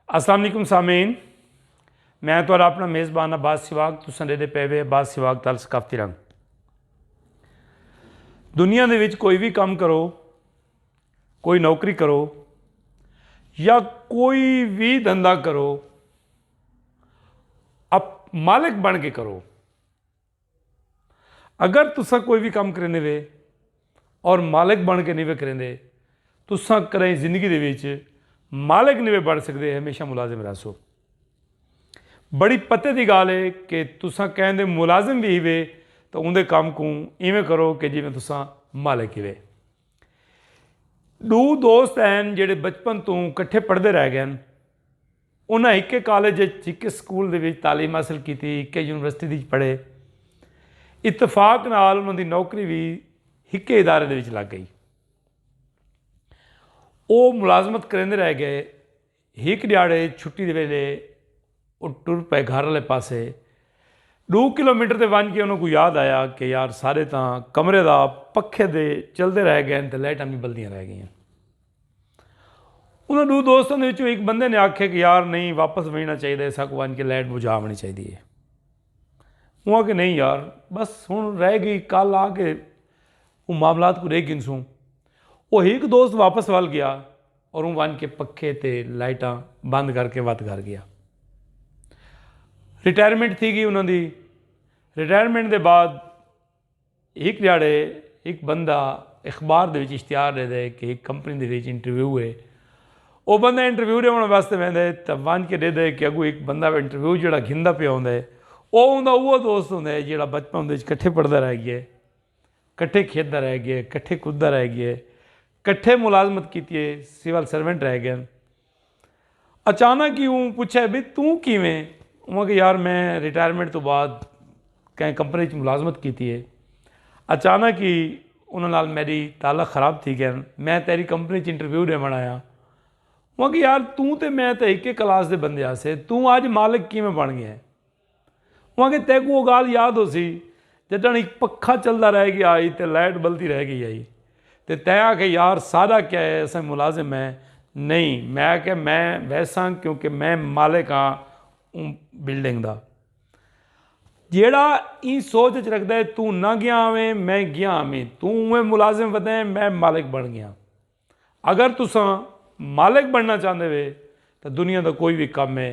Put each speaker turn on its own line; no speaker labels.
السلام علیکم سامعین میں تو اپنا میزبان عباس سواگ تو سنڈے دے پے وے عباس سواگ تال ثقافتی رنگ دنیا دے وچ کوئی بھی کام کرو کوئی نوکری کرو یا کوئی بھی دھندا کرو اپ مالک بن کے کرو اگر تساں کوئی وی کم کریندے وے اور مالک بن کے نی وے کریندے تساں کدائیں زندگی دے وچ مالک نی وے بن سکدے ہمیشہ ملازم رہسو۔ بڑی پتے دی گالھ ہے کہ تساں کہیں دے ملازم وی ہیوے تاں اوندے کم کوں ایویں کرو کہ جیویں تساں مالک ہیوے۔ ڈو دوست ہن جیڑھے بچپن توں کٹھے پڑھدے رہ گئن۔ انہاں ہکے کالج اچ، ہکے سکول دے وچ تعلیم حاصل کیتی، ہکے یونیورسٹی دی اچ پڑھے۔ اتفاق نال انہاں دی نوکری وی ہکے ادارے دے وچ لگ گئی۔ او ملازمت کریندے رہ گئے۔ ہک ڈیہاڑے چھٹی دے ویلھے او ٹر پئے گھر آلے پاسے۔ ڈو کلو میٹر تے ونج کے انہاں کوں یاد آیا کہ یار سارے تاں کمرے دا پکھے دے چلدے رہ گئے تے لائٹاں وی بلدیاں رہ گئیاں۔ انہاں ڈو دوستاں دے وچوں ہک بندے نے آکھیا کہ یار نہیں واپس ونجنا چاہیدا ہے ساکوں ونج کے لائٹ بجھا آونی چاہیدی ہے اوہ آکھے نہیں یار بس ہن رہ گئی کل آ کے اوہ معاملات کو ڈیکھ گھنسوں اوہ ہک دوست واپس ول گیا اور اوہ ونج کے پکھے تے لائٹاں بند کر کے وت گھر گیا ریٹائرمنٹ تھی گئی انہاں دی ریٹائرمنٹ دے بعد ہک ڈیہاڑے ہک بندہ اخبار دے وچ اشتہار ڈیندے کہ ہک کمپنی دے وچ انٹرویو ہے۔ او بندہ انٹرویو ڈیونڑ واسطے ویندے تاں ونج کے ڈیہدے کہ اگوں ہک بندہ انٹرویو جیہڑا گھندا پیا ہوندے او اوندا اوہو دوست ہوندے جیہڑا بچپن دے وچ کٹھے پڑھدا رہ گئے، کٹھے کھیڈدا رہ گئے، کٹھے کددا رہ گئے، کٹھے ملازمت کیتی ہے، سول سرونٹ رہ گئے ہن۔ اچانک ہی اوں پچھے بھئی توں کیویں؟ اوں آکھیا یار میں ریٹائرمنٹ توں بعد کہیں کمپنی اچ ملازمت کیتی ہے اچانک ہی انہاں نال میڈی تعلق خراب تھی گئن میں تیڈی کمپنی اچ انٹرویو ڈیوݨ آیاں اوں آکھیا یار توں تے میں تے ہکے کلاس دے بندے ہاسے توں اج مالک کیویں بݨ گئیں؟ او آکھیا تیکوں او گالھ یاد ہوسی جڈن ہک پکھا چلدا رہ گیا ہئی تے لائٹ بلدی رہ گئی ہئی تے تیں آکھیا یار سارا کیا اے اساں ملازم ہیں نئیں میں آکھیا میں ویساں کیونکہ میں مالک ہاں اوں بلڈنگ دا جیڑھا ایں سوچ اچ رکھدا اے توں نہ گیا ہوویں میں گیا ہوویں توں اونویں ملازم ودیں میں مالک بن گیاں اگر تساں مالک بننا چاہندے وے تاں دنیا دا کوئی وی کم اے